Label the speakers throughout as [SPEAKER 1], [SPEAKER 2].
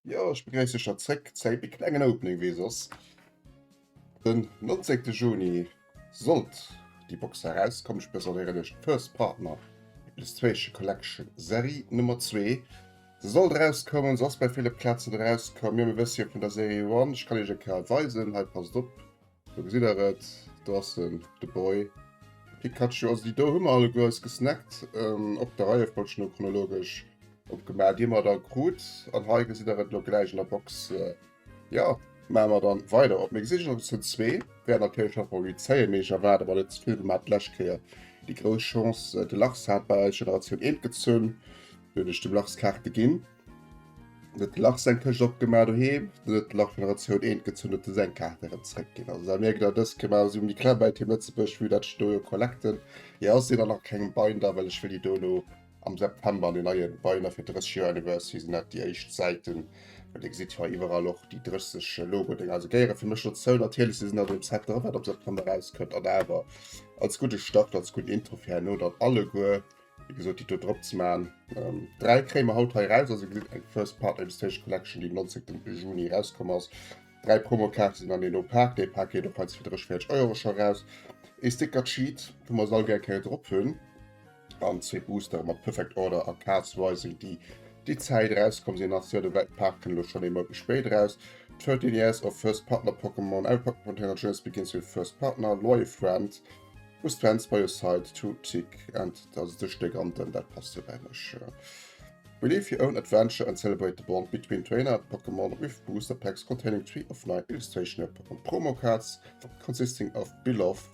[SPEAKER 1] Jo ech begréiss iech da zréck, Zéi méi klengen Opening wéi soss. Den 19 Juni sollt déi Box erauskommen, ech presentéieren iech d'First Partner Illustration Collection Serie Nummer 2. Se sollt erauskommen, se ass bei ville Plazen erauskomm, jo mir wësse jo vun der Serie One, ech kann iech e Kal weisen, hei passt op, do gesitt der et, do ass en, de Boy Pikachu, also déi do hu mer alleguer eis gesnackt, op der Reiefolg no chronologesch opgemaach, déi mer da krut, an hei gesitt der et elo gläich an der Box. Jo, maache mer dann weider op. Mir gesi sech op Episode 2. Wäert natierlech nach Favorizéien, mee ech erwaarde mer net ze vill. Mir haten d'lescht Kéier déi grouss Chance, de Lars hat bei eis Generatioun Eent gezunn, du hunn ech dem Lars Kaarte ginn, du huet de Lars seng Këscht opgemaach doheem, du huet de Lars Generatioun Eent gezunn, huet de seng Kaarte erëm zréckginn. Also da mierkt der, dës Kemer si méi kleng bei Team Lëtzebuerg, wéi dat ech do jo collecten. Hir ass déi dann nach kengem Binder, well ech wëll déi do elo Am September an den neie Beiner fir 30 Joer Anniversary sinn dat déi éischt Säiten. Well Dir gesitt jo hei iwwerall och déi 30 Logo-Dénger. Also géiere fir mech dozou. Natierlech si se net an dem Set dra, wat am September erauskënnt. An awer als gudde Start, als gudden Intro fir herno dann alleguer, wéi gesot, déi do drop ze maachen. Ähm, dräi kréie mer haut hei eraus. Also gesitt eng First Part Illustration Collection, déi am 19. Juni erauskomm ass. Dräi Promokaarte sinn an eeno Pak. Dee Pak geet och hei zu 30, 40 Euro scho eraus. Ee Sticker-Sheet, wou mer se all gär eng Kéier drop hunn. An zwee Booster mat Perfect Order a Cast Rising, déi déi Zäit erauskomm sinn, ass jo de Welt Park kënne lo schonn ee Mount méi spéit eraus. 13 Years of First Partner Pokémon, Every Pokémon Trainer Journeys begins with First Partner, Loyal Friend, Who's Friends by your side, Two Tick, and dat ass de Stéck an den, dat passt jo bei mech. Relive your own adventure and celebrate the bond between trainer and Pokémon with booster packs containing three of nine illustrational Pokémon promo cards consisting of Beloved,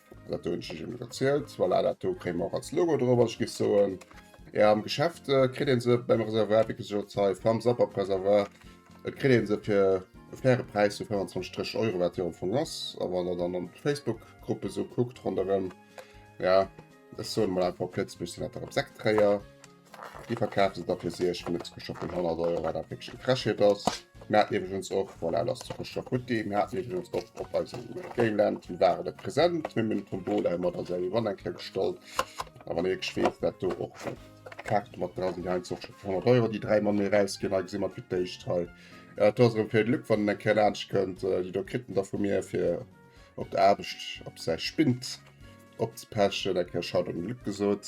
[SPEAKER 1] Dat hunn ech ëm erzielt. Voilà, dat do kréie mer och als Logo drop. Ech géif soen, ja, am Geschäft äh, kritt een se beim Reservoir, wéi gesot, hei beim Sapperpreservoir. Et kritt een se fir e faire Präis vu 25, 30 Euro, wat jo am Fong ass. A wann der dann an d'Facebook-Gruppe sou kuckt ronderëm, ja, ech soen emol einfach op Lëtzebuergesch sinn dat der Resektträger. Déi verkaaft se da fir 6 vun de Zuckerschock vun 100 Euro, wat awer wierklech gefrechheet ass. Mir haten iwwregens och, voilà, lass Zuckerschock gutt gi, mir haten iwwregens och op eisem Gameland ware se present, mir hunn den Tombola ëmmer da säi Won eng Kéier gestallt. A wann ee wierklech weess, wat do och fir Kaarte mat dra sinn, hei en Zuckerschock vun 100 Euro, déi dräi Mann méi erausginn, hei gesi mer et fir d'éischt hei. Et ass erëm fir de Luc, wann en eng Kéier laanscht kënnt, déi do kritt en da vu mir fir. op der Aarbecht op säi Spind opzepäschen, dat kär Schaut am Glück gesot.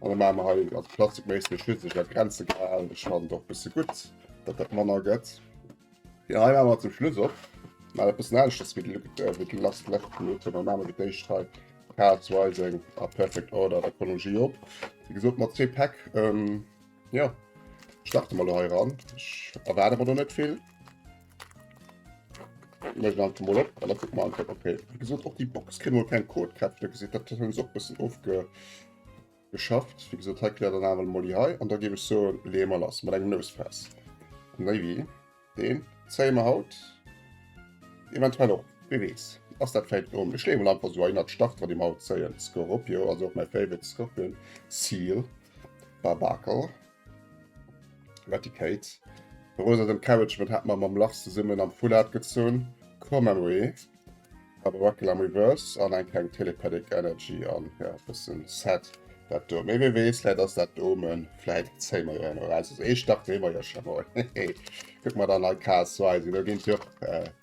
[SPEAKER 1] An da maache mer hei ganz plastikméisseg schützeg an Grenze gehalen. Ech fannen et och e bësse gutt, datt dat manner gëtt. Jo, hei maache mer zum Schluss op. Maachen e bëssen aneschters wéi de Luc, wéi de Last Left Pilote. Mer maache fir d'éischt hei Parts Rising a Perfect Order der Chronologie op. Wéi gesot mat zwee Päck. Jo, starte mer elo hei eran. Ech erwaarde mer do net vill. gesot och die Box kri kein Code gehabt da gesit dat hun och bessen ofge geschafft wie gesot hat klärt an Molly hei an da gi ech so lemer lass mat engem Nues fest Navy den Zemer haut eventuell och wie wees ass dat fäit um ech lewe einfach so ennert Start wat dem haut zeien Scorpio also op mein favorite Scorpion Ziel Barbakel. Wat déi Kate. Rosa den Carriage mat hat mer mam Lars zesummen am Full Art gezunn. Come and we. Aber Wackel am Reverse an eng kleng Telepathic Energy an ja bessen sad dat do. Mee wee wees vläit ass dat d'Omen, vläit zéie mer jo en Orasis. Eescht dach wee mer jo scho mol. Hehe. Kuck mer dann hei Chaos Rising, do ginn jo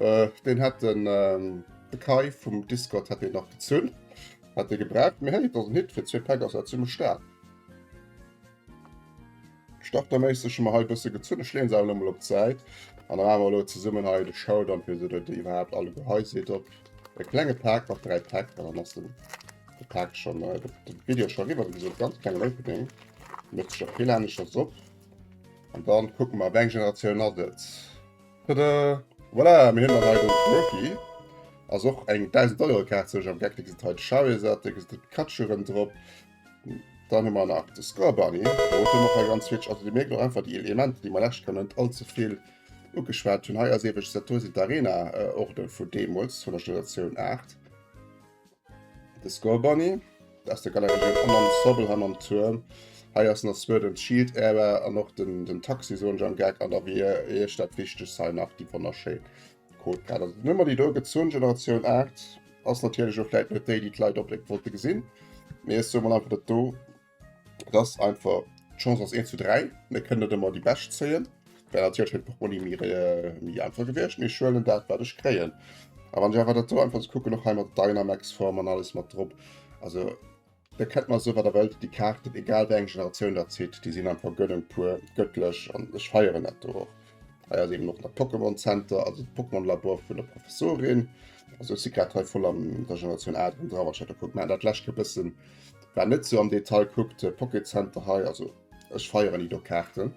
[SPEAKER 1] Äh, deen hätt den ähm, de Kai vum Discord hätt deen nach gezünn. Hätt dee gebraucht, mee hey, et ass en Hit, fir zwee Päck ass dat zimmlech staark. Starterméisseg hu mer hei e bësse gezünn, ech leeën se awer nochmol op d'Säit. An dann awer elo zesummen hei de Showdown, fir se dat iwwerhaupt alle go hei seet op. E klenge Päck mat dräi Päck, an dann ass den de Päck schon äh, de, de Video schon riwwer, wéi gesot ganz klengen Opening. Mësst sech och vill aneschters op. An dann kucke mer, wéi eng Generatioun ass et. Tada! Voilà, mir hunn dann hei den Trophy. Ass och eng 1000 Euro Kaart, sou ech am Geck. Da gëss et hei de Charizard, da gëss et de Pikachu erëm drop. Dann hu mer nach de Scorbunny. Dovun hu mer och hei ganz vill. Also Dir mierkt och einfach déi Elementer, déi mer lech Kéier net allze vill ugeschwat hunn. Hei ass ewech Satoshi d'Arena Orgel vu deemools, vun der Generatioun 8. De Skull Bunny, aus der Galerie den Amon Sobelham am Tuerm. Hei ass nach Swerdens Shield Era an och den, den Taxi soen ech am Gag an der Rear Eech. Dat Wichtegst hei nach déi wonnerschéi Codegrad. Also d'Nummer déi do gezunn, Generatioun 8, ass natierlech och vläit net déi, déi d'Leit onbedéngt wollte gesinn, mee ech soe mol einfach dat do. dass einfach d'Chance ass 1 zu 3, mir kënnen net ëmmer déi Bescht zéien. Well natierlech huet Portmonni mir äh, méi einfach gewiescht, mir schuelen dat wat ech kréien. A wann ech awer dat do einfach ze kucken och hei mat Dynamax-Form an alles mat drop, also da kënnt man so wat der Welt déi Kaarten, egal wéi eng Generatioun dat zitt, déi sinn einfach gëllen puer gëttlech an ech feieren dat do och. Hei ass eben noch der Pokémon Center, also Pokémon Labor vun der Professorin. Also si grad hei voll an der Generatioun A dran, wat ich da kuck. Mä dat läscht e bëssen War net sou am Detail kuckt de Pocket Center hei. Also ech feieren Ido Kaarten.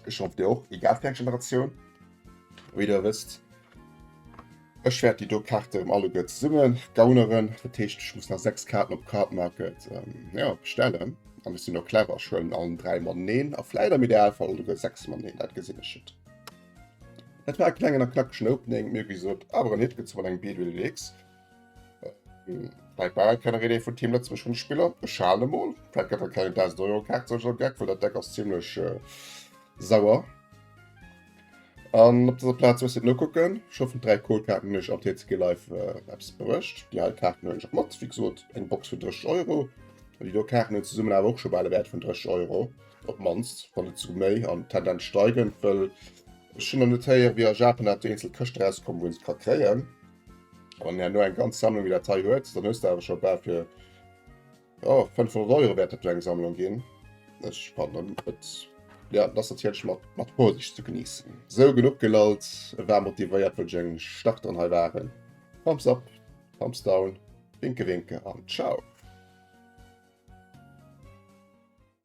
[SPEAKER 1] Ech hoff dir och, egal fir eng Generatioun. Wéi der wësst, ech wäert Ido Kaarte rem alleguer zesummen gauneren. Dat heescht ech muss nach 6 Kaarten op Cardmarket ähm, ja, bestellen. An ech sinn och clever, ech huelen allen 3 mateneen a vläit am Idealfall alleguer 6 mateneen, dat gesinn ech et. Dat war e klengen a knackegen Opening, mir ewéi gesot awer en Hit gezunn an engem BDW Deluxe. Vielleicht war keine Rede von Team Lützburg von Spieler. Schade mal. Vielleicht gab es keine 1000 Euro Karte zum Beispiel Gag, weil der Deck ist ziemlich äh, sauer. An op dieser Platz muss no gucken schon von drei Kohlkarten nicht am TCG live äh, Apps bericht die halt Karten hun mat wie gesagt, eng Box für 30 Euro die do Karten hun zusammen aber auch schon beide Wert von 30 Euro op manst von zu méi an Tendenz steigen well schon an Detail wie Japan hat einzel Köcht rauskommen wo es kann kreieren Wann er no eng ganz Sammlung wie Datei huet, dann hues du awer scho bal fir oh, 500 Euro wärt dat eng Sammlung ginn. Ech fannen et ja, dass dat hich mat mat Vorsicht ze geniessen. Sou genuch gelallt, e war motivéiert wënsch eng Stach dran hei waren. Thumbs up, Thumbs down, Winke Winke an Ciao.